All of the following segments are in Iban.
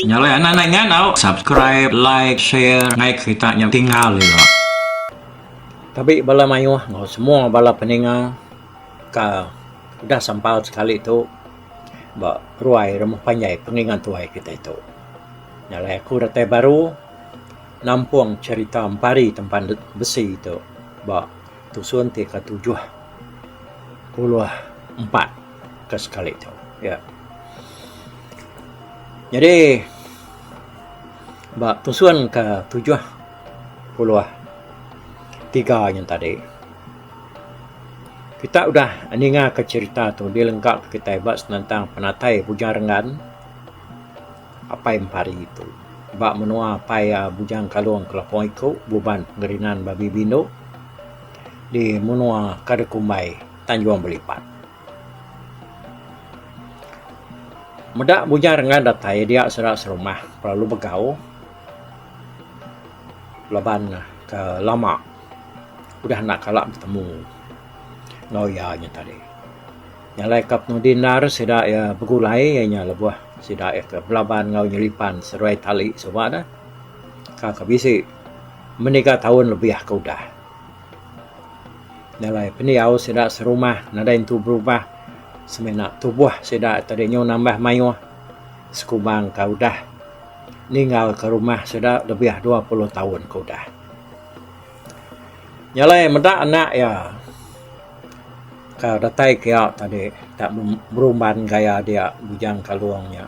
Nyalai anak nai ngau subscribe like share ngai kerita nya tinggal ira. Tabi bala mayuh enggau semua bala peninga ka udah sambal sekali tu ba ruai rumah panjai pengingat tuai kitai tu. Nyalai aku datai baru. Nampung cherita empari tempan besi tu ba tusun ti ke tujuh puluh empat ke sekali tu. Ya. Nyadi ba tusun ke tujuh puluh tiga nya tadi kita udah ninga ke cherita tu di lengkap kitai ba senentang penatai Bujangan. Apai Empari tu. Ba menua apai iya Bujang Kalong Kelapong Iku, Buban Pengerinan Babi Bindu di menua Kada Kumbai, Tanjung Belipat. Meda Bujang Rengan datai dia sida serumah lalu begau laban ke lama udah enda kala betemu enggau iya nya tadi. Jalai ka penudi endar sida iya begulai iya nya lebuh sida iya ke belaban enggau nyelipan seruai tali suba ne ka ke bisi meniga taun lebih ke udah. Jalai pendiau sida serumah nadai entu berubah semina tubuh sida tadi nyu nambah mayuh sekubang ka udah ninggal ka rumah sida lebih dua puluh taun ke udah. Nya alai meda anak iya ka datai ke iya tadi ka berumban gaya dia Bujang Kalong nya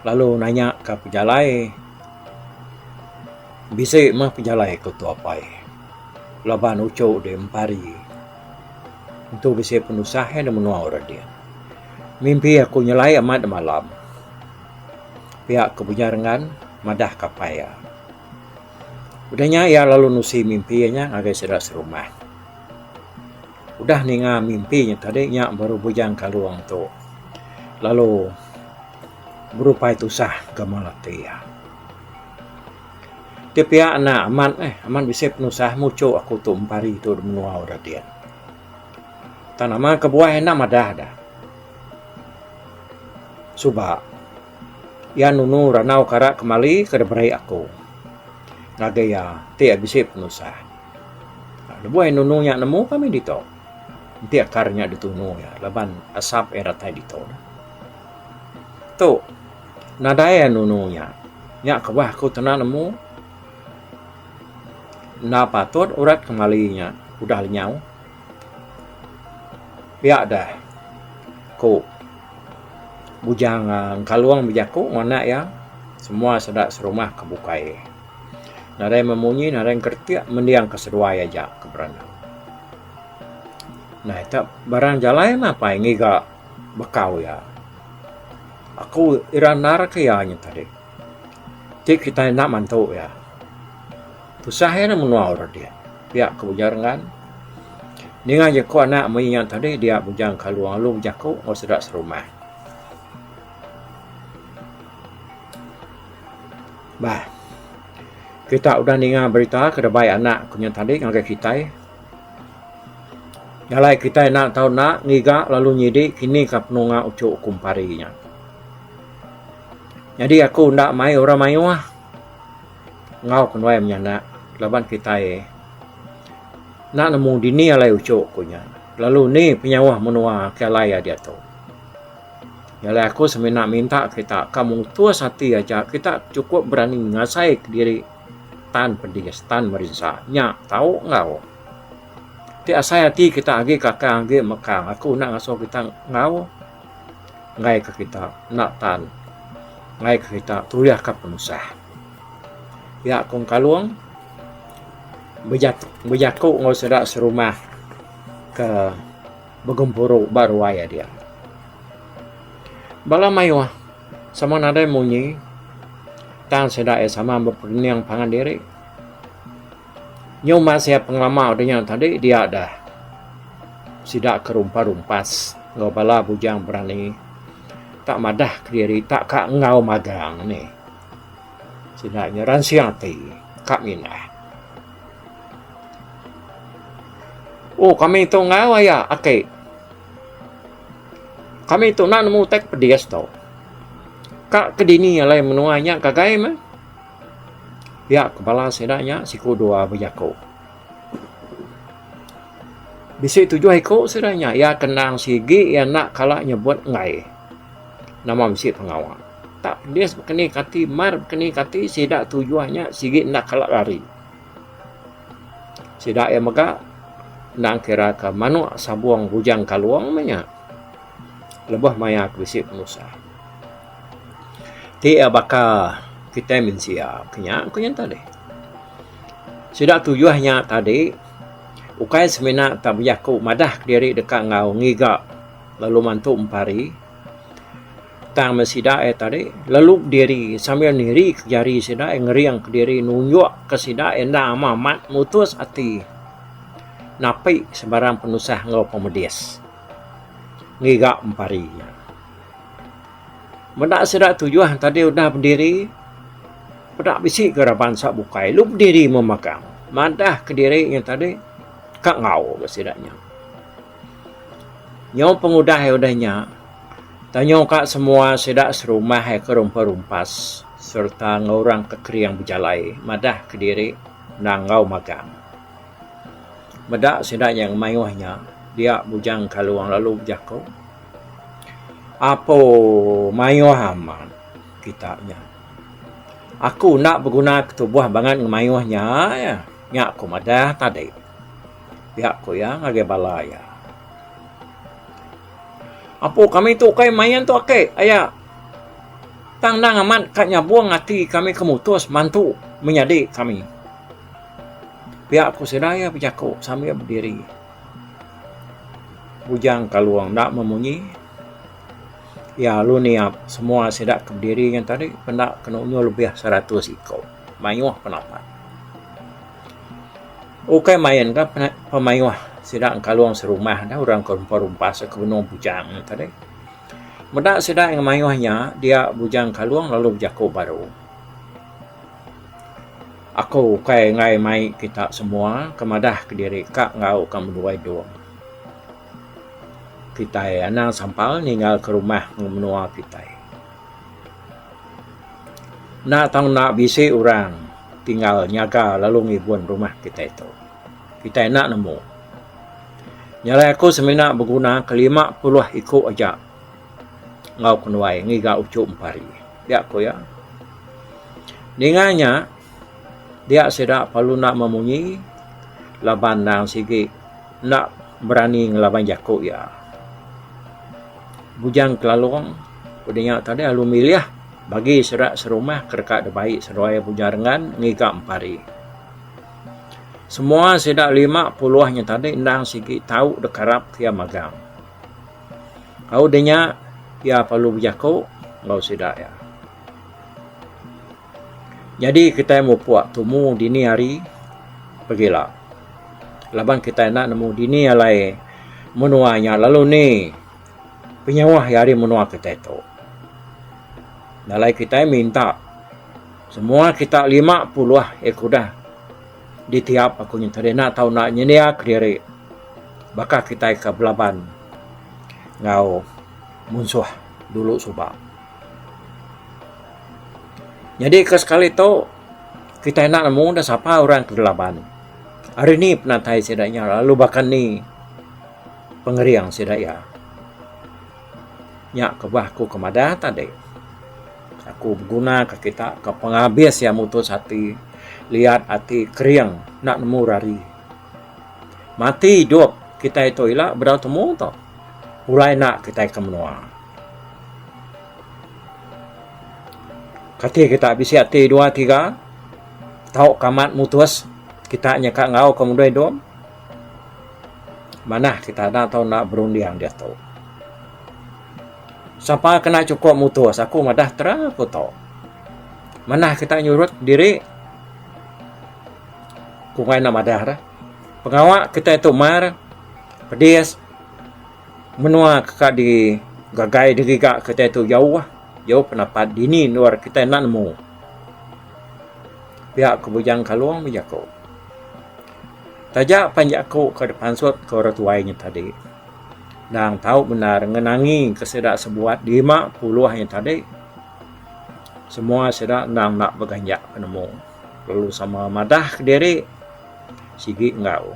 lalu nanya ka pejalai bisi mah pejalai ku Tua Pai laban uchu deh empari tu bisi penusah iya da menua orang diin. Mimpi aku nyelai amat da malam pia ku Bujang Rengan madah ka pai iya. Udah nya iya lalu nusi mimpi iya nya ngagai sida serumah. Udah ninga mimpi nya tadi nya baru Bujang Kalong tu lalu berupai tusah ke mung ati iya. Ti pia enda amat eh amat bisi penusah muchu aku tu empa hari tu da menua udah din. Tang nama kebuah enda madah dah. Suba. Iya nunu randau kara kemali ke diberi aku ngagai iya ti bisi penusah. Lebuh iya nunu nya nemu kami ditu. Enti akar nya ditunu iya laban asap iya datai ditu. Tu nadai iya nunu nya. Nya kebah aku kena nemu enda patut urat kemali nya udah lenyau. Pia deh ku Bujang Engkalung bejaku enggau anak iya semua sida serumah ke bukai. Nadai meh munyi nadai meh kretek mending ke seduai aja ke berenang. Nah ita barang jalai mah apai ngiga bekau iya. Aku ira nendar ke iya nyadi. Ti kitai enda mantu iya. Tusah iya nya menua orang dia. Pia ke ujar ngan ninga jeku anak mei iya tadi dia bujang ke Along lalu bejaku enggau sida serumah. Bah. Kita udah ninga berita ke dabai anak ku nya tadi ngagai kitai. Jalai kitai enda tau enda ngiga lalu nyidi kini ka penunga uchu kumpari nya. Nyadi aku enda mai orang mayuh. enggau ke nuai menya enda laban kitai enda nemu dini alai uchu ku nya lalu ni penyauh menua ke alai diatu. Nyadi aku semina minta kita ka mutus ati aja kita chukup berani ngasai kediri tan pedis tan merinsa nya tau enggau ti asai ati kita agi kakang agi mekang aku enda ngasuh kita enggau. ngaika kita enda tan ngaika kita tuyahka penusah. Nya Kong Kalong bejaku enggau sida serumah ke begempuru ba ruai iya dia. Bala mayuh sama nadai munyi tang sida iya sama beperening pangan diri. Nyuma sia pengelama dunya tadi dia dah sida ke rumpa rumpas enggau bala bujang berani tak madah kediri tak ka enggau magang nih. Sida nya ransing ati ka mindah. Oh kami tu enggau aya aki. Kami tu nak nemu utai ke pedis tu. Ka kedini alai menua nya ngagai meh. Pia ke bala sida nya siku dua bejaku. Bisi tujuh iku sida nya iya ke endang sigi iya enda kala nyebut enggai nama bisi pengawa. Tak pedis baka ni kati mar baka ni kati sida tujuh nya sigi enda kala lari. Sida iya mega endang kira ke manuk sabung bujang kalung meh nya lebuh maya ke bisi penusah. Ti iya baka kitai mensia ke nya ku nyengkah deh. Sida tuyuh nya tadi ukai semina tak bejaku madah diri deka enggau ngiga lalu mantu empari tang meh sida iya tadi lalu diri sambil niri ke jari sida iya ngering ke diri nunjuk ke sida iya enda amat mutus ati napi sebarang penusah enggau pemedis ngiga empari nya. Meda sida tujuh tadi udah bediri peda bisi ke ra bansa bukai lu bediri meh magang madah kediri inya tadi ka enggau ke sida nya. Nyau pengudah iya udah nya tanyau ka semua sida serumah iya ke rumpa rumpas sereta enggau orang ke kering bejalai madah kediri endang enggau magang. Meda sida nya mayuh nya dia Bujang Kalong lalu bejaku. Apo mayuh amat kita nya. Aku enda beguna ketubuh bangat ngan mayuh nya iya. Nya aku madah tadi. Pia ku iya ngagai bala iya. Apo kami tu ukai main tu ake aya. Tang endang amat ka nyabung ati kami ke mutus mantu menyadi kami. Pia ku sida iya bejaku sambil bediri. Bujang Kalong enda meh munyi. Iya alu niap semua sida ke bediri ngan tadi penda ke nunjul lebih seratus iku mayuh penapat. Ukai main ka pemayuh sida Kalong serumah dah orang ke rumpa rumpa se ke benung Bujang nya tadi. Meda sida mayuh nya dia Bujang Kalong lalu bejaku baru. Aku ukai enggai mai kita semua ke madah kediri ka enggau ka menua idong. Kitai anang sampal ninggal ke rumah enggau menua kitai. Enda tau enda bisi orang tinggal nyaga lalu ngibun rumah kitai tu. Kitai enda nemu. Nyalai aku semina beguna ke lima puluh iku aja enggau kenuai ngiga uchu empari. Pia ku iya, ninga nya dia sida perlu enda memunyi laban endang sigi enda berani ngelaban jaku iya. Bujang Kelalong ku dinya tadi lalu milih bagi sida serumah ke deka dibai seduai Bujang Rengan ngiga empari. Semua sida lima puluh nya tadi endang sigi tau dikarap ke iya magang. Au deh nya iya perlu bejaku enggau sida iya. Nyadi kitai mupuk tumu dini hari pegila laban kitai enda nemu dini alai menua nya lalu ni penyauh iya ari menua kitai tu. Enda alai kitai minta semua kita lima puluh eh kudah. Ditiap aku nyentuk deh enda tau enda nyendia kediri baka kitai ke belaban enggau munsuh dulu suba. Nyadi ke sekali tu kitai enda nemu enda sapa orang ke belaban. Ari ni penatai sida nya lalu baka ni pengering sida iya. Nya kebah aku ke madah tadi. Aku begunaka kita ke pengabis iya mutus ati liat ati kering enda nemu rari. Mati idup kitai tu ila bedau temu tu pulai enda kitai ke menua. Kati kita bisi ati dua tiga tauka amat mutus kita nyeka enggauka mudui idup manah kita enda tau berunding diatu. Sapa kena chukup mutus? Aku madah terang aku tu. Manah kita nyurut diri ku ngai enda madah dah. Pengawa kitai tu mar pedis menua ka di gagai di giga kitai tu jauh ah. Jauh pendapat dini endur kitai enda nemu. Pia ku Bujang Kalong bejaku. Taja pan jaku ke dipansut ke orang tuai nya tadi. Endang tau bendar ngenangi ke sida sebuat lima puluh ayu tadi. Semua sida endang enda beganjak penemu lalu sama madah kediri sigi enggau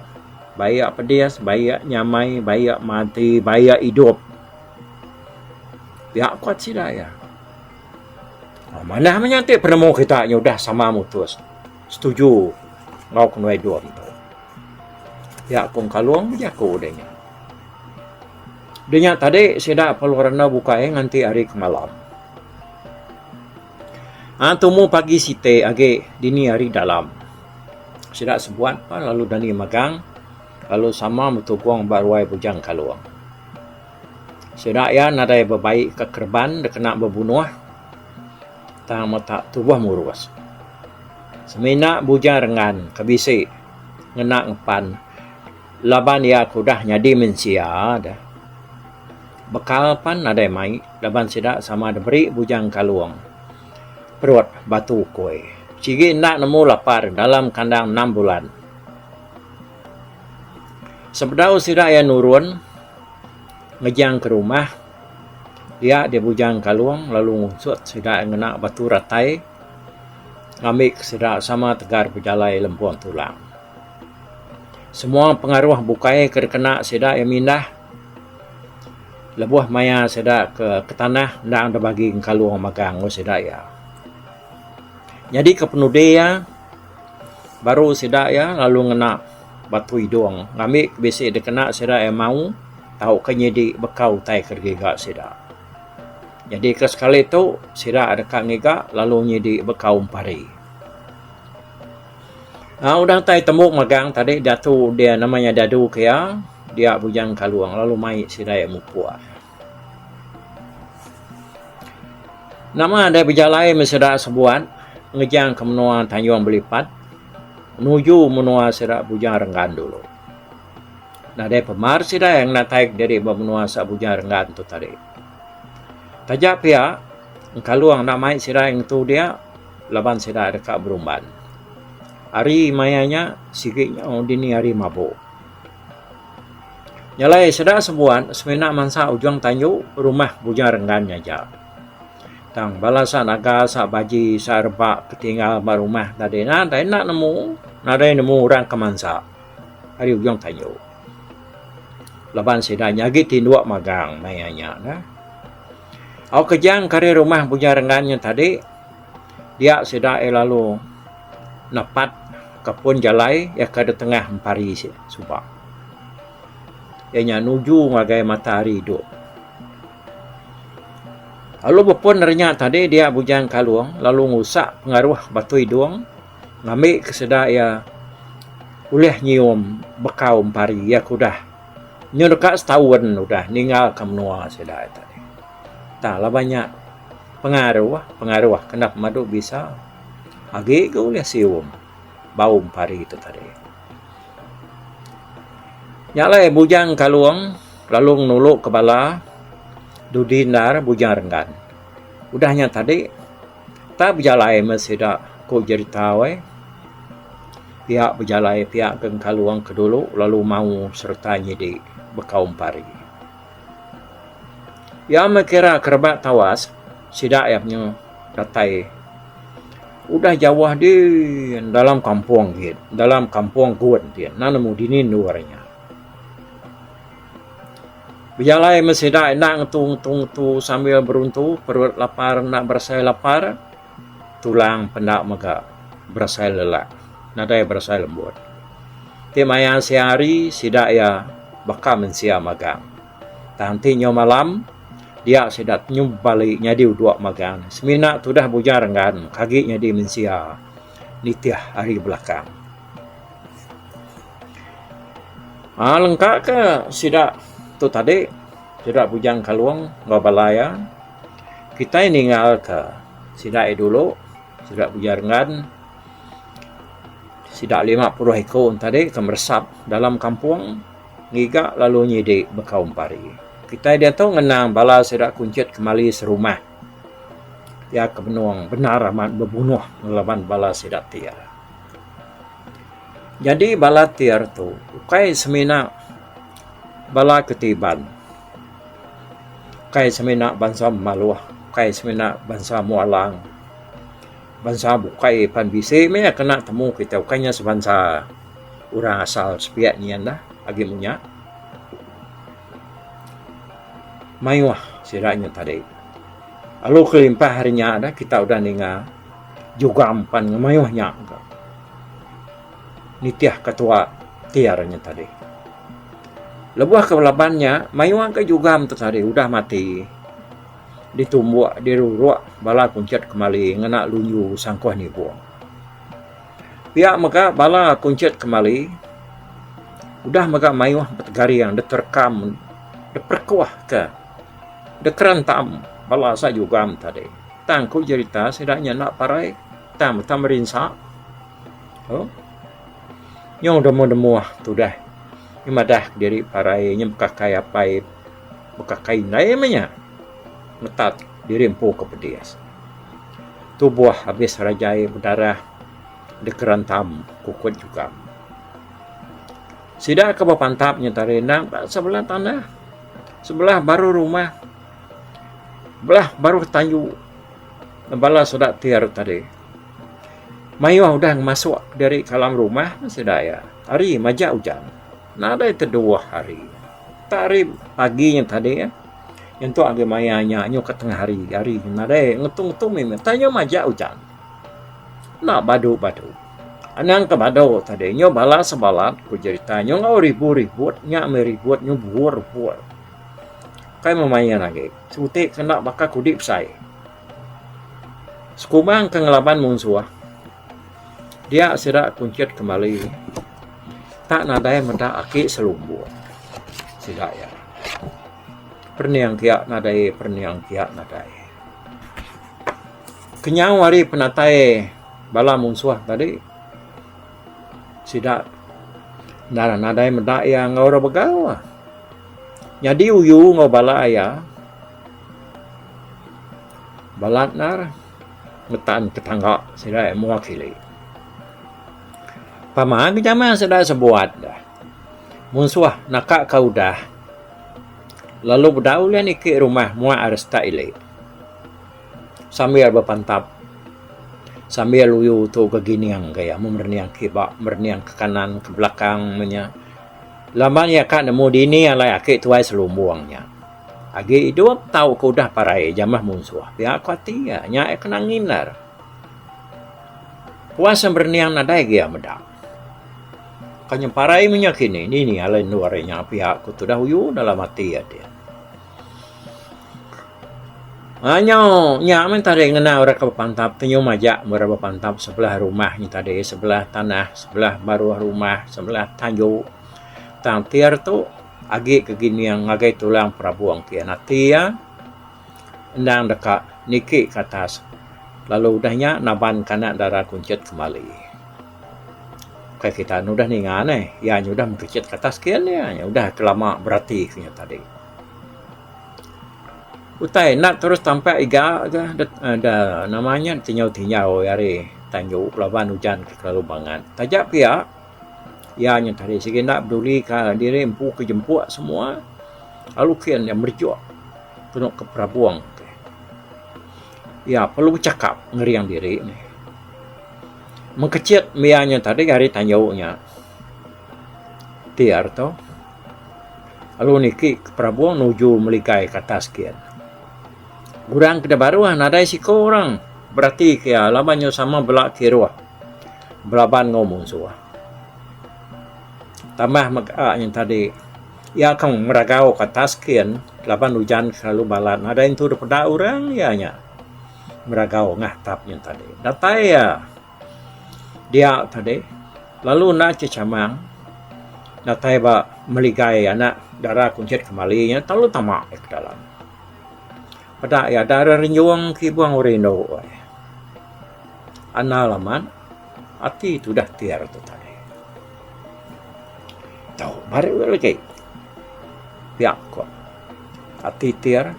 baie iya pedis, baie iya nyamai, baie iya mati, baie iya idup. Pia kuat sida iya. Manah menyati penemu kita nyudah sama mutus. Setuju enggau kenuai Dom tu. Pia Kong Kalong bejaku deh nya. Deh nya tadi sida perlu randau bukai nganti hari ke malam. Ha tumu pagi siti agi dini hari dalam. Sida sebuat pun lalu dani magang lalu sama betugong ba ruai Bujang Kalong. Sida iya nadai bebai ka kereban dikena bebunuh. Tang mata tubuh murus. Semina Bujang Renggan ke bisi ngena ngempan laban iya ke udah nyadi mensia deh. Bekal pan nadai mai laban sida sama diberi Bujang Kalong perut batu ukoi. Sigi enda nemu lapar dalam kandang enam bulan. Sebedau sida iya nurun ngejang ke rumah. Iya deh bujang kalung lalu ngunsut sida ngena batu ratai ngambi ke sida sama tegar bejalai lempung tulang. Semua pengaruh bukai ke dikena sida iya mindah lebuh maya sida ke ke tanah endang deh bagi kalung magang enggau sida iya. Nyadi ke penudi iya baru sida iya lalu ngena. Batu Idong ngambi ke bisi dikena sida iya mau tauka nyidi bekau utai ke digiga sida. Nyadi ke sekali tu sida deka ngiga lalu nyidi bekau empari. Aaa udah utai tembu magang tadi diatu dia nama iya Dadu ke iya dia Bujang Kalong lalu mai sida iya mupuk. Nama dai bejalai meh sida sebuat ngejang ke menua Tanjung Belipat nuju menua sida Bujang Renggan dulu. Nadai pemar sida iya ngenatai diri ba menua Sa Bujang Renggan tu tadi. Taja pia engkalung enda mai sida ngetu dia laban sida deka berumban. Ari maya nya sigi nyau dini hari mabuk. Nya alai seda sebuat semina mansa ujung tanju rumah Bujang Renggan nya aja. Tang bala sa naga, sa baji, sa reba ke tinggal ba rumah tadi nadai enda nemu, nadai nemu orang ke mansa ari ujung tanju. Laban sida nya agi tinduk magang maya nya neh. Au kejang ke ari rumah Bujang Renggan nya tadi, Dia sida iya lalu napat ka pun jalai iya ka ditengah empari sida suba. Iya nya nuju ngagai matahari duk. Lalu bepun ari nya tadi dia Bujang Kalung lalu ngusak pengaruh Batu Idong ngambi ke sida iya ulih nyium bekau empari iya ke udah nyau deka setaun udah ninggal ka menua sida iya tadi. Tang laban nya. Pengaruh, pengaruh kena pemadu bisa agi ga ulih sium bau empari tu tadi. Nya alai Bujang Kalong lalu nulu ke bala dudi endar Bujang Renggan. Udah nya tadi tang bejalai meh sida ku jerita weh. Pia bejalai pia Geng Kalong ke dulu lalu mau sereta nyidi bekau empari. Iya mekira ke rebak tawas sida iya penyu datai udah jauh di dalam kampung gin dalam kampung gun ti enda nemu dini endur inya. Bejalai meh sida enda ngetu ngetu ngetu sambil beruntu perut lapar enda berasai lapar. Tulang penda mega berasai lelak, nadai berasai lembut. Ti maya siang hari sida iya baka mensia magang. Tang ti nyau malam dia sida nyum bali nyadi udok magang ne semina tudah bujang renggan maka agi nyadi mensia nitih hari belakang. Aaa lengka ke sida tu tadi sida Bujang Kalong enggau bala iya. Kitai ningalka sida ari dulu, sida Bujangan, sida lima puluh iku enti tadi ke meresap dalam kampung ngiga lalu nyidi bekaum pari. Kitai diatu ngenang bala sida kunchit kemali serumah iya ke benung bendar amat bebunuh ngelaban bala sida Tir. Nyadi bala Tir tu ukai semina bala ke ti Iban. Kai semina bansa maluh, kai semina bansa mualang. Bansa bukai pan bisi meh iya kena temu kita ukai inya sebansa orang asal sepiak nyian lah agi mung nya. Mayuh sida nya tadi. Lalu kelimpah ari nya kita udah ninga jugang pan ngemayuh nya. nitihka tua ti ari nya tadi. Lebuh ke laban nya, mayuh ke jugam tu tadi udah mati ditumbuk, diruruk bala kunchit kemali ngena lunju sangkuh nibung. Pia mega bala kunchit kemali udah mega mayuh petegaring dep terekam, dep perekuhka, dep kerentam bala sa jugam tadi. Tang ku jerita sida nya enda parai tang meta merinsa. Oh. Nyau demu demuh tudah nya madah diri parai nya bekakai apai bekakai indai meh nya metat diri empu ke pedis. Tubuh abis rajai bedarah dikerentam kukut jugam. Sida ke bepantap nya tari endang ba sebelah tanah sebelah baru rumah belah baru tanju bala sida ti aro tadi. Mayuh udah ngemasuk diri ka alam rumah meh sida iya. Ari majak ujan. Nadai teduwuh hari. Tak ari pagi nya tadi intu agi maya nya nyuka tengah hari. Hari nya nadai ngetu ngetu mih tah nyuh majak ujan. Enda badu badu. Anang ke badu tadi nyuh bala sebalat ku jerita nyuh enggau ribu ribut nya mih ribut nyuh bur bur. Kai meh main agi. Siti ke enda baka kudi besai. Sekumang ke ngelaban munsuh dia sida kunchit kembali tak nadai meda aki selumbung sida iya. Perening kia nadai perening kia nadai. Kenyau ari penatai bala munsuh tadi sida nadai meda iya enggau orang begau. Nyadi uyu enggau bala iya. Balat nar ngetan ke tangga sida iya mua kili. Pama ke jaman sida sebuat deh. Munsuh naka ka udah lalu bedau ulih niki rumah mua ari sita ili sambil bepantap sambil uyu tu begining ke iya meh merening kiba merening ke kanan ke belakang meh nya laban iya ka nemu dini alai aki tuai selumbung nya. Agi idup tau ke udah parai jamah munsuh pia ko ati iya. Nya iya kena ngindar. Puas iya berening nadai agi iya meda. Ka nyemparai menya kini dini alai endur iya nya pia ko tudah uyu dalam ati iya din. Ba nyau nya meh tadi ngena orang ke bepantap tu nyum aja meh orang bepantap sebelah rumah nya tadi sebelah tanah sebelah baruh rumah sebelah tanju tang tir tu Agi ke gining ngagai tulang perabung ti anak ti iya endang deka niki ke atas lalu udah nya naban kana dara kunchit kembali. Ukai kita ne udah ninga neh iya nya udah mengkechit ke atas kin iya nya udah ke lama berati ke nya tadi. Utai enda terus tampak iga ga da nama nya tinyau-tinyau ari tandu laban ujan ke kelalu bangat. Taja pia Iya nya tadi sigi enda peduli ka diri empu ke jempu semua lalu ke iya merejuk penu ke perabung ti. Iya perlu bechakap ngering diri ne. Mung kechet meh iya nya tadi ari tanjau nya ti ari tu lalu niki ke perabung nuju meligai ke atas gin. Orang ke dah baruh nadai siko orang berati ke iya laban nya sama bela kiruh. Belaban enggau munsuh. Tambah mega nyen tadi iya akan ngeragau ka atas skin laban ujan selalu balat nadai entu dep peda orang iya nya ngeragau ngah tap nyen tadi. Datai iya dia tadi lalu enda ce chamang datai ba meligai anak dara kunchit kemali nya telalu tama iya ke dalam. Peda iya dara renjung ke ibong rindu ai. Anal amat ati tudah ti ari tu tadi. Tau baru lagi pia ko ati ti ari.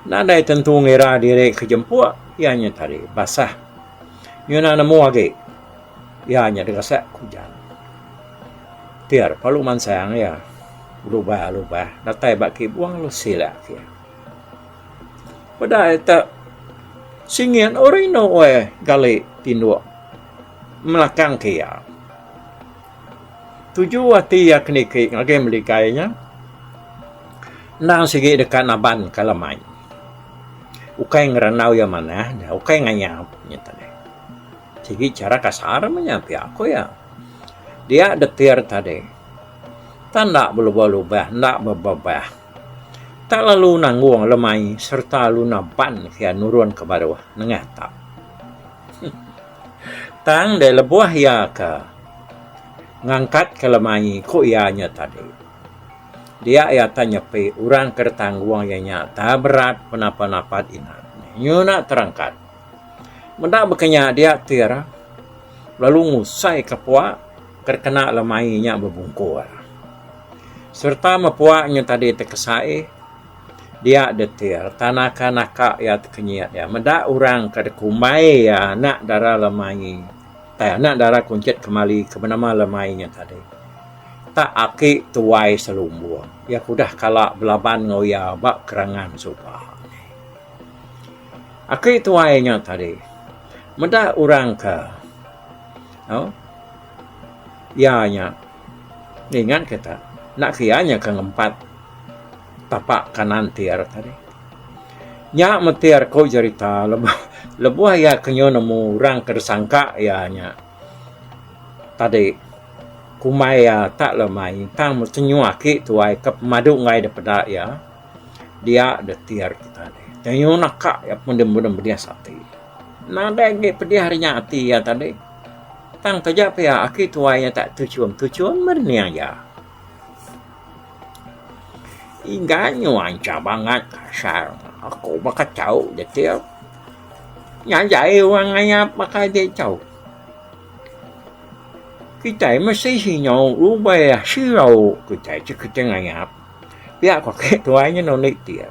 Nadai tentu ngira diri ke jempuk iya nya tadi basah ngena nemu agi iya nya dikasek ku ujan. Ti ari perlu mansang iya lubah lubah datai ba kibung lu silek iya. Peda ita singit orang inu weh gali tinduk melakang ke iya. Tuju ati iya ke niki ngagai meli kai nya endang sigi deka naban ka lemai. Ukai ngerandau iya manah, ukai ngayap nya tadi. Sigi chara kasar meh nya pia ku iya. Dia detir tadi. Tan enda belubah lubah enda bebebah. Tak lalu nanggung lemai sereta luna ban iya nurun ke baruh nengah tap. Tang deh lebuh iya ke ngangkat ke lemai ku iya nya tadi. Dia iya tah nyepi orang ke ditanggung iya nya tah berat penapa napat ina nyuna terangkat. Meda baka nya dia tir lalu ngusai ke pua ke dikena lemai nya bebungkur. Sereta mepuak nyen tadi tekesai dia detil tanaka naka iya tekenyit iya meda orang ke dikumbai iya anak dara Lemaie ai anak dara Kunchit Kemali ke benama Lemaie nyen tadi tak aki tuai selumbung iya ke udah kala belaban enggau iya ba kerangan suba neh. Aki tuai nyen tadi meda orang ke au iya nyen. Ninga ke ta, enda kiya nya ke ngempat tapa kanan ti arat ari. Nya meti ari ku jerita lebuh lebuh iya ke nyu nemu orang ke disangka iya nya tadi kumbai iya tak le mai tang mesti nyu aki tuai ke pemadu enggai de peda iya dia de ti ari kita di. Tang nyu naka iya pun deh mudip ati. Nadai agi pedih ari nya ati iya tadi. Tang taja pia aki tuai iya tak tuchum, tuchum merening iya. Inggan nyuai cham angat kasar. Aku baka chau jetil. Nya jai orang ngayap baka agi chau. Kitai mesti sinyau rubai sirau kitai ti kitai ngayap. Pia ku aki tuai nya nulit dia.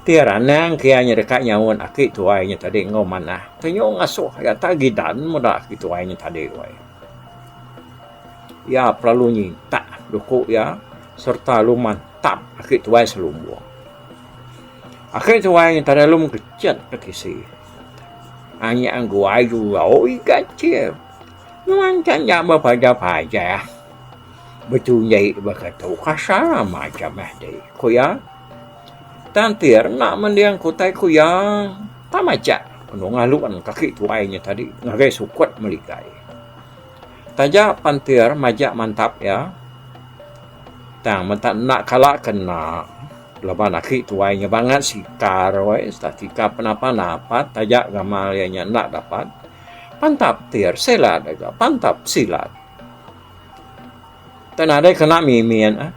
Ti ranang ke iya nya deka nyaut aki tuai nya tadi enggau manah. Penyu ngasuh iya tak gidan meda aki tuai nya tadi weh. Iya pelalu nyintak duku iya serta lalu mantap aki tuai selumbung. Aki tuai nya tadi lalu mengechet ke tisi. Anyap anggu ayu iya. Oi gachie. Nuan chan nya bepaja-paja. Betu nya ih baka tu kasa macam eh ti ku iya. Tang Tier enda mending ke utai ku iya. Tang macha enu ngalun kaki tuai nya tadi ngagai sukut melikai. Taja pan Tier majak mantap iya tang menta enda kala ke enda laban aki tuai nya bangat sikar weh sereta sikar penapa dapat taja gamal iya nya enda dapat. Pantap Tier silat deka pantap silat. Tau nadai kena mimi nya neh.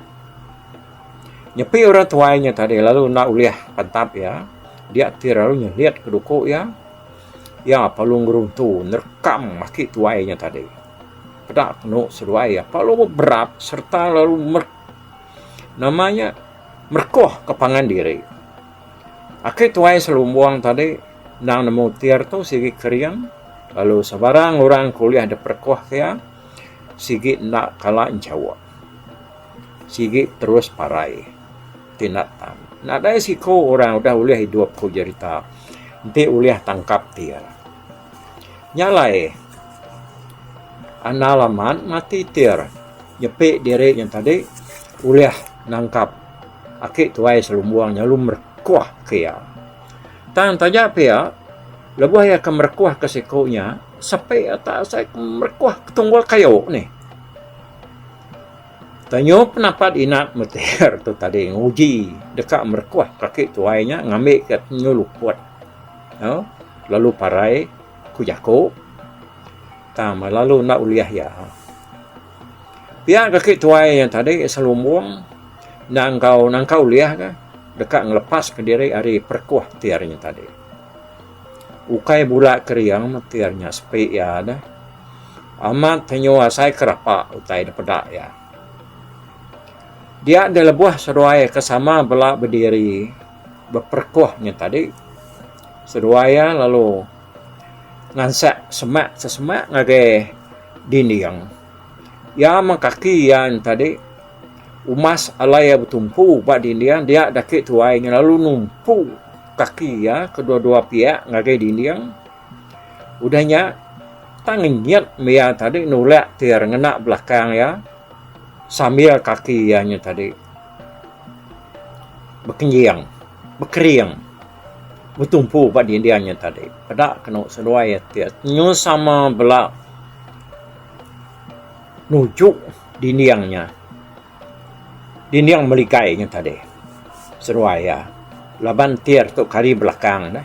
Nyepi orang tuai nya tadi lalu enda ulih pantap iya. Dia ti lalu nyelit ke duku iya. Iya perlu ngeruntu nerekam aki tuai nya tadi. Peda penu seduai iya perlu beberap sereta lalu mer nama nya merekohka pangan diri. Aki tuai selumbung tadi endang nemu tir tu sigi kering lalu sebarang orang ke ulih diperekohka iya. Sigi enda kala enchawa. Sigi terus parai ti enda tan. Nadai siko orang udah ulih idup ku jerita enti ulih tangkap ti iya. Nya alai anal amat mati ti iya nyepi diri iya tadi ulih nangkap aki tuai selumbung nya lalu merekuh ke iya. Tang taja pia lebuh iya ke merekuh ke siko nya. Sapai atak asai ke merekuh ke tunggul kayu nih. Tanyu penapat Inat Metear tu tadi nguji deka merekuh kaki tuai nya ngambi ke tanyu luput no lalu parai ku jaku tang lalu enda ulih iya. Pia kaki tuai nya tadi selumbung enda enggau nangka ulih ka deka ngelepaska diri ari perekuh Tear nya tadi. Ukai bula kering metir nya sepi iya deh. Amat tenyu asai ke rapa utai da peda iya. Dia deh lebuh seduai ke sama bela bediri beperekuh nya tadi. Seduai iya lalu ngansek semak sesemak ngagai dinding. Iya meh kaki iya nya tadi umas alai iya betumpu ba dinding dia daki tuai nya lalu numpu. Kaki iya kedua-dua piak ngagai dinding. Udah nya, tang ngenyit mia tadi nulak tir ngena belakang iya sambil kaki iya nya tadi bekenying, bekering betumpu ba dinding nya tadi. Peda kenu seduai tir nyu sama bela nuju dinding nya. Dinding meligai nya tadi seruai iya laban entir tu kari belakang ne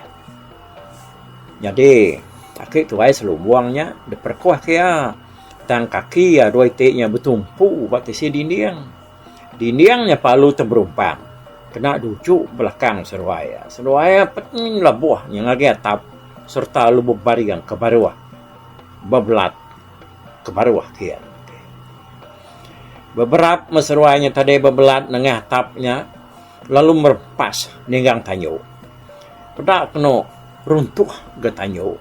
nyadi aki tuai selumbung nya diperekuh ke iya tang kaki iya dua iti nya betumpu ba tisi dinding. Dinding nya palu ti berumpang kena duju belakang seruai iya. Seruai iya pun labuh nya ngagai atap sereta lebuh baring ke baruh bebelat. Kebaruh agi anu enti. Beberap meseruai nya tadi bebelat nengah tap nya lalu merepas ninggang tanyu. Peda kenu runtuh ga tanyu.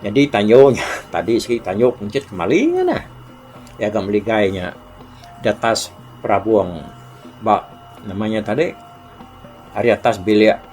Nyadi tanyu nya tadi sigi tanyu kunchit kemali nya neh. Iya ga meligai nya di atas perabung ba nama nya tadi ari atas bilik.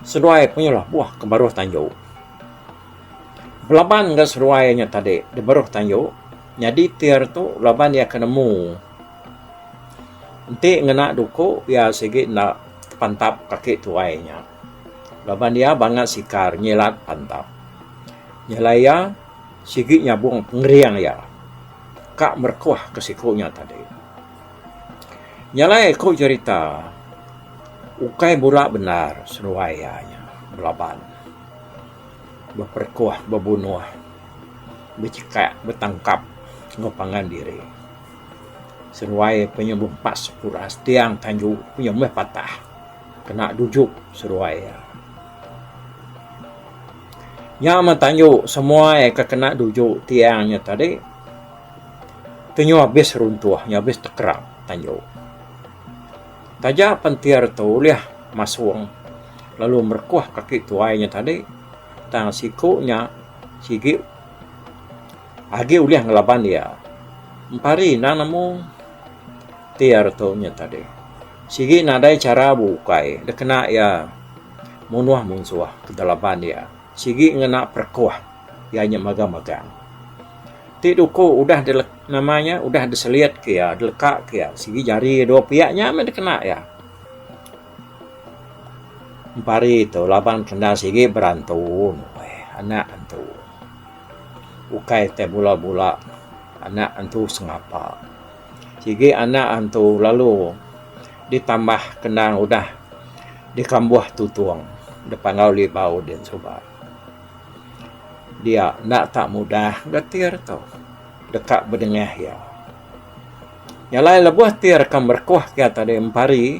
Seduai penyalah buah ke baruh tanju. Belaban ga seduai nya tadi da baruh tanju nyadi tir tu laban iya ke nemu enti ngena duku iya sigi enda tepantap kaki tuai nya laban iya bangat sikar nyilat pantap. Nyelai iya sigi nyabung pengering iya ka merekuh ke siku nya tadi. Nya alai aku cerita ukai bula bendar seduai iya nya belaban beperekuh bebunuh bechekak betangkap enggau pangan diri seduai iya penyembuh empat sekula setiang tanju iya meh patah kena dujup seduai iya. Nya meh tanju semuai ke kena dujup tiang nya tadi. Tu nyu abis runtuh, nyu abis tekerap tanju. Taja pentir tu ulih masung lalu merekuh kaki tuai nya tadi tang siku nya sigi agi ulih ngelaban iya. Empari enda nemu tir tu nya tadi. Sigi nadai chara beukai dikena iya munuh munsuh ke dalaban iya. Sigi ngena perekoh iya nya magang magang ti duko udah di nama iya udah di selit ke iya di leka ke iya sigi jari iya dua pia nya meh dikena iya. Empari tu laban kenda sigi berantu nuai anak antu ukai tai bula bula anak antu sengapa. Sigi anak antu lalu ditambah kendang udah dikambuh tutung da Panggau Libau diin suba. Dia enda tak mudah enggau tir tu deka bedengah iya. Jalai lebuh tir ka merekuh iya tadi empari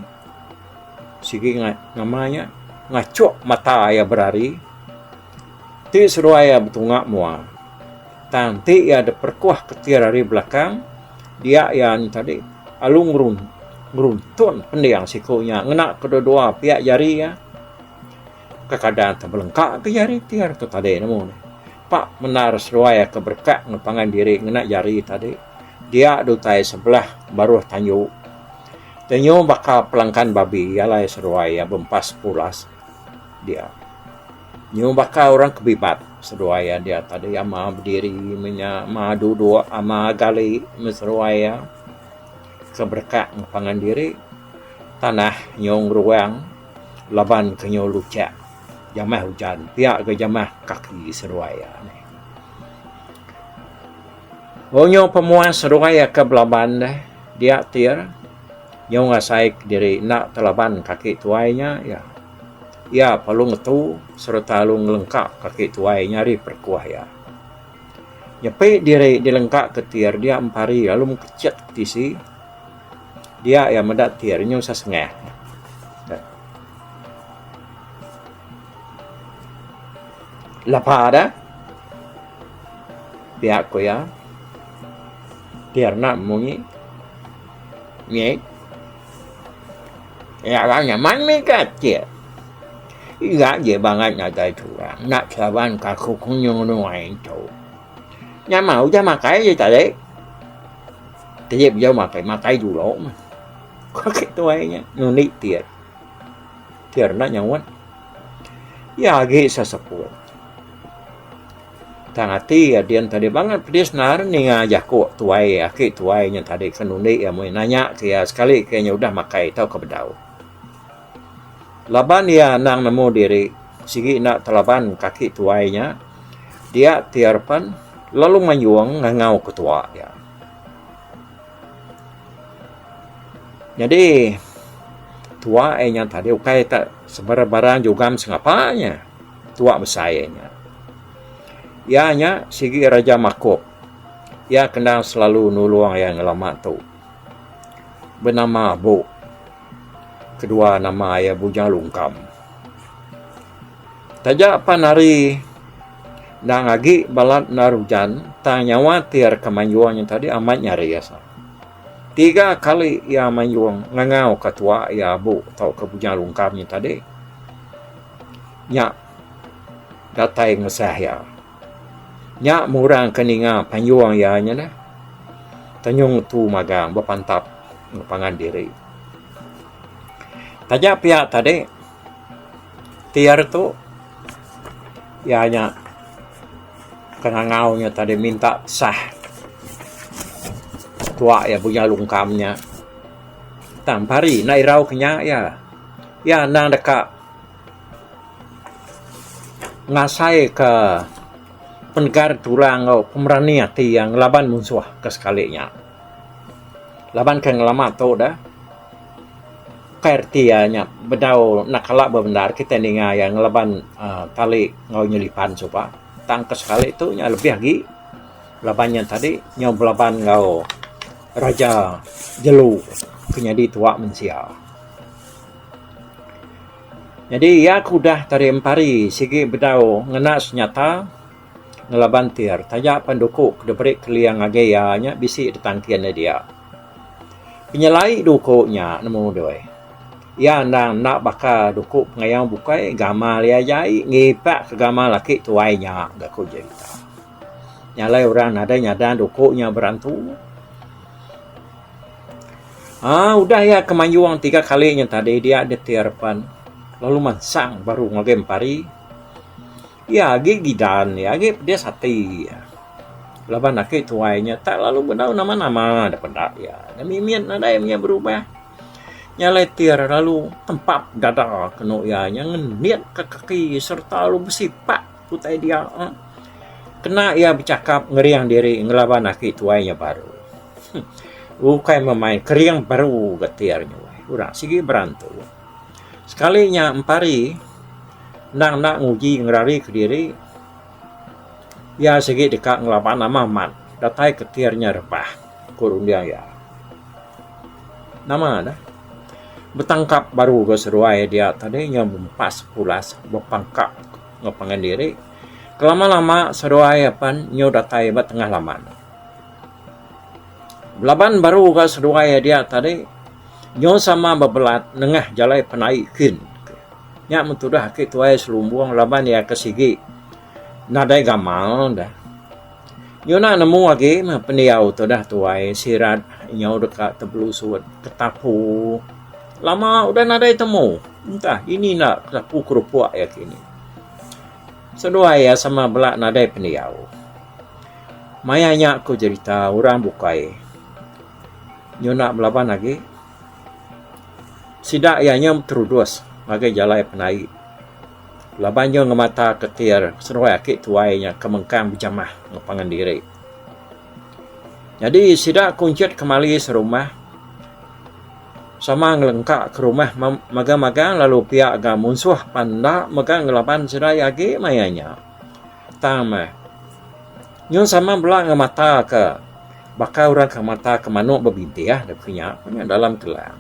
sigi nama iya ngachuk mata iya berari. Ti seduai iya betunga mua. Tang ti iya diperekuah ketir ari belakang dia iya nya tadi alu ngeruntun pending siku nya ngena kedua-dua piak jari iya. Kekadang teh belengka ke jari ti ari tu tadi nemu nih. Pa mendar seduai iya ke berekat enggau pangan diri ngena jari tadi dia di utai sebelah baruh tanju. Tenyu baka pelangkan babi alai seduai iya bempas pulas. dia. Nyuh baka orang ke bibat seduai iya dia tadi ama bediri meh inya ama duduk ama gali meh seduai iya ke berekak meh pangan diri tanah nyuh ngeruang laban ke nyuh luchek jamah ujan pia ke jamah kaki seduai iya nih. Onyuh pemuan seduai iya ke belaban deh dia ti. Nyau ngasai kediri enda telaban kaki tuai nya iya. Iya perlu ngetu sereta lalu ngelengka kaki tuai nya ari perekuh iya. Nyepi diri dilengka ke tir dia empari lalu mekechet ke tisi dia iya meda tir nyau sesengah. Lepa da pia ku iya tir enda munyi. Nge. Ya lah nyaman mih ke atik. Ira je bangat ngagai turang enda kelaban kaku kunyung nuai entu. Nyamau udah makai je tadi. Tedip jau makai makai dulu mah. Kaki tuai nya nundi tir. Tir enda nyaut. Ya agi seseput. Tang ati iya din tadi bangat pedis naan ninga jaku tuai aki tuai nya tadi ke nundi iya meh nanya ke iya sekali ke iya udah makai tauka bedau. Laban iya anang nemu diri sigi enda telaban ke aki tuai nya dia ti arepan lalu mayung ngangau ke tua iya. Nyadi tua iya nya tadi ukai ta sebarang barang jugam sengapa nya. Tua besai iya nya. Iya nya sigi raja makup. Iya kena selalu nulung iya nya lama tu. Benama Abu. Kedua nama iya Bujang Lungkam. Taja pan ari endang agi balat enda ujan tang nyawa ti ari Kemanjung nya tadi amat nyaris. Tiga kali iya mayung ngangau ka tua iya abu tauka Bujang Lungkam nya tadi nya datai ngesah iya. Nya murang ka ninga panyung iya nya neh Tanyung Ngetu Magang bepantap enggau pangan diri. Taja pia tadi Ti ari tu iya nya kengangau nya tadi minta sah tuak iya Bunya Lungkam nya tang pari enda irau ke nya iya. Iya endang deka ngasai ka penegar ti orang enggau pemerani ati iya ngelaban munsuh ke sekali nya. Laban ke ngelama tu dah. Kai reti iya nya bedau anak kala bebendar kitai ninga iya ngelaban aaa tali enggau inya lipan suba tang ke sekali tu iya lebih agi laban iya tadi nyau belaban enggau Raja Jelu ke nyadi tuwa mensia. Nyadi iya ke udah tadi empari sigi bedau ngena senyata ngelaban tir taja pan duku ke diberi Keling agi iya nya bisi ditangkin iya dia. Penyelai duku nya nemu doi. Iya endang enda baka duku pengayau bukai gamal iya aja ai ngipak ke gamal aki tuai nya ga ku jerita. Nya alai orang nadai nyada duku nya berantu. Aaa udah iya ke mayung tiga kali nya tadi dia ditir pan lalu mansang baru ngagai empari. Iya agi gidan iya agi pedis ati iya laban aki tuai nya tak lalu bedau nama nama dep peda iya nya mimit nadai inya berubah nya alai ti ira lalu tempap dada kenu iya nya ngendit ka kaki serta lalu besipak ke utai dia kena iya bechakap ngering diri ngelaban aki tuai nya baru ukai memain kering baru ga ti ari nya weh ura sigi berantu. Sekali nya empari endang enda nguji ngerari kediri iya sigi deka ngelaba nama amat datai ketir nya rebah ku runding iya. Nama dah betangkap baru ga seduai dia tadi nya bempas pulas bepangkap enggau pangan diri kelama lama seduai apan nyau datai ba tengah laman. Belaban baru ga seduai dia tadi Nyau sama bebelat nengah jalai penai kin. Nya men tudah aki tuai selumbung laban iya ke sigi nadai gamal dah. Nyuna nemu agi meh pendiau tudah tuai sirat nyau deka tebelusut ketapu lama udah nadai temu entah ini enda ketapu kerupuk iya kini. Seduai iya sama bela nadai pendiau. Maya nya ku jerita orang bukai. Nyuna belaban agi sida iya nyam terudus ngagai jalai penai laban iya ngemata ketir seruai aki tuai iya ke mengkang bejamah enggau pangan diri. Nyadi sida kunchit kemali serumah sama ngelengka ke rumah magang-magang lalu pia ga munsuh pan enda mega ngelaban sida iya agi maya nya. Tang meh. Nyun sama bela enggau mata ke baka orang ke mata ke manok bebintih deh ku nya ku nya dalam kelan.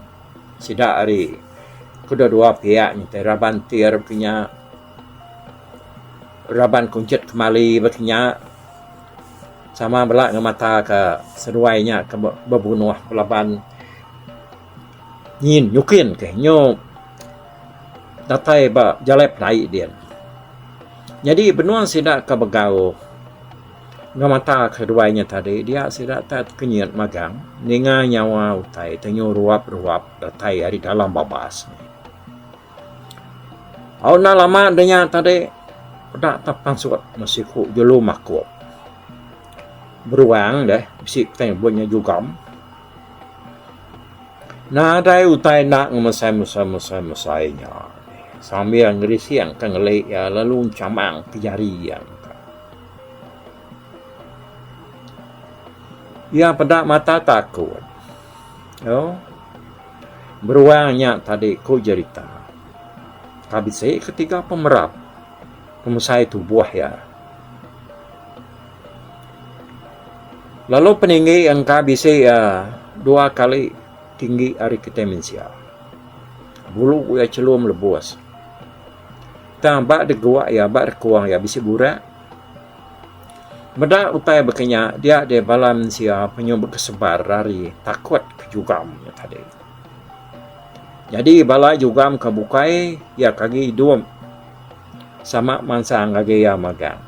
Sida ari kedua dua piak ngintai raban entir ku nya raban kunchit kemali ba ke nya sama bela enggau mata ke seduai nya ke bebunoh belaban. Nyin nyikin ke nyu datai ba jalai pelaie din. Nyadi binua sida ke begauh enggau mata ke duai nya tadi dia sida tak kenyit magang ninga nyawa utai ti nyu ruap-ruap datai ari dalam babas. Au enda lama deh nya tadi peda tak pansut meh siku jelu makuk. Beruang deh bisi kitai nyebut nya jugam. Nadai utai enda ngemesai mesai-mesai mesai nya sambil ngerising ka ngeli iya lalu chamang ti jari iya. Iya peda mata takut tu beruang nya tadi ku jerita ka bisi ketiga pemerap pemesai tubuh iya. Lalu peninggi iya engka bisi iya dua kali tinggi ari kitai mensia. Bulu iya chelum lebus. Tang ba degua iya ba rekuang iya bisi burak. Meda utai baka nya dia deh bala mensia penyuh bekesebar ari takut ke jugam nya tadi. Nyadi bala jugam ke bukai iya ke agi idup sama mansang ngagai iya magang.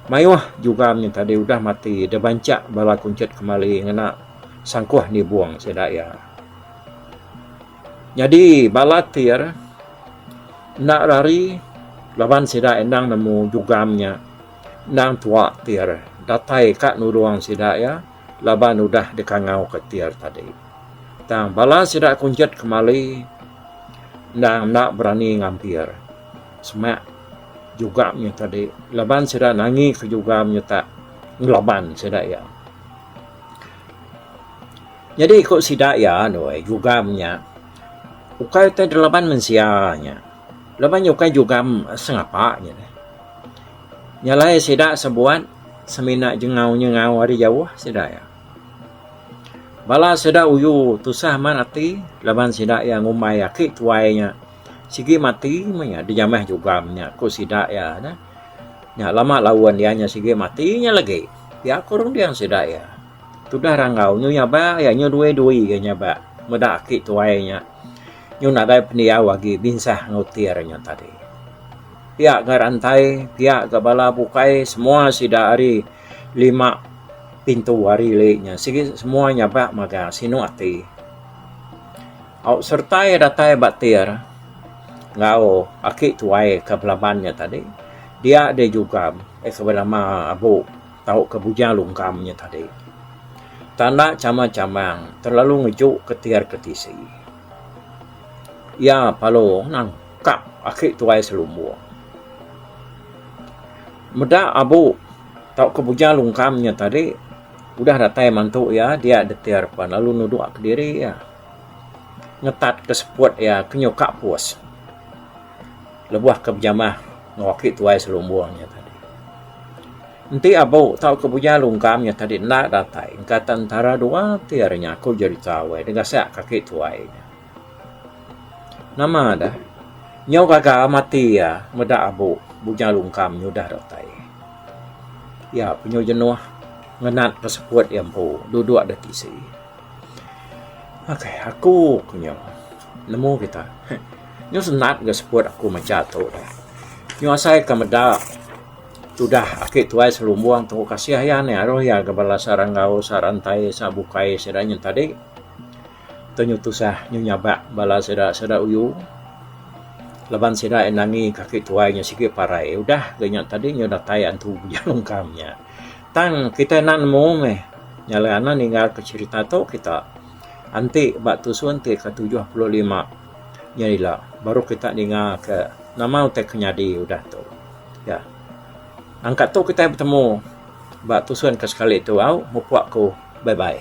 Mayuh jugan nya tadi udah mati deh banchak bala kunchit kemali ngena sangkuh nibung sida iya. Nyadi bala tir enda rari laban sida endang nemu jugan nya endang tua tir datai ka nulung sida iya laban udah dikangau ka tir tadi. Tang bala sida kunchit kemali endang enda berani ngampir. Semak juga menyuta diri laban sida nangi ke juga menyuta ngelaban sida iya. Nyadi ku sida iya nuai jugam nya ukai utai dilaban mensia nya laban nya ukai jugam sengapa nya deh. Nya alai sida sebuat semina jengau nyengau ari jauh sida iya. Bala sida uyu tusah amat ati laban sida iya ngumbai aki tuai nya. Sigi mati meh iya dijamah jugam nya ku sida iya neh. Nya lama laun iya nya sigi mati nya lagi pia ku runding sida iya. Tudah ranggau nyu nyaba iya nyu due dui ga nyaba meda aki tuai nya nyu nadai pendiau agi binsah enggau tir nya tadi. Pia ga rantai pia ga bala bukai semua sida ari lima pintu ari le nya sigi semua nyaba magang sinu ati. Au sereta iya datai ba tir enggau aki tuai ke Belaman nya tadi, dia deh Jugam iya ke benama Abu tauka Bujang Lungkam nya tadi. Tanda chamang-chamang terlalu ngejuka tir ke tisi. Iya palu nangkap aki tuai selumbung. Meda Abu tauka Bujang Lungkam nya tadi udah datai mantu iya, dia deh tir pan lalu nuduka diri iya. ngetat ke seput iya ke nyuka pus lebuh ke bejamah enggau aki tuai selumbung iya tadi. Enti abu tauka bujang lungkam iya tadi enda datai engka tan entara dua ti ari nyaku jerita weh degasak ka aki tuai iya. Nama deh nyau gaga mati iya meda abu bujang lungkam nya udah datai. Iya penyu jenuh ngenat ke seput iya empu duduk da tisi. Ok aku ku nyu nemu kita nyu senang ga seput aku macha tu nyu asai ka meda tudah aki tuai selumbung tu kasih iya ne aroh iya ga bala sara enggau sara entai sara bukai sida nyen tadi tu nyu tusah nyu nyabak bala sida sida uyu laban sida iya nangi ka aki tuai nyen sigi parai udah ga nya tadi nyu datai antu ujan ungkam nya. Tang kitai enda nemu meh nya alai anak ninggalka cherita tu kita enti ba tusun ti ke tujuh puluh lima nya ila baru kita ninggalka nama utai ke nyadi udah tu. Ya. Angka tu kitai betemu ba tusun ke sekali tu au mupok aku bye bye.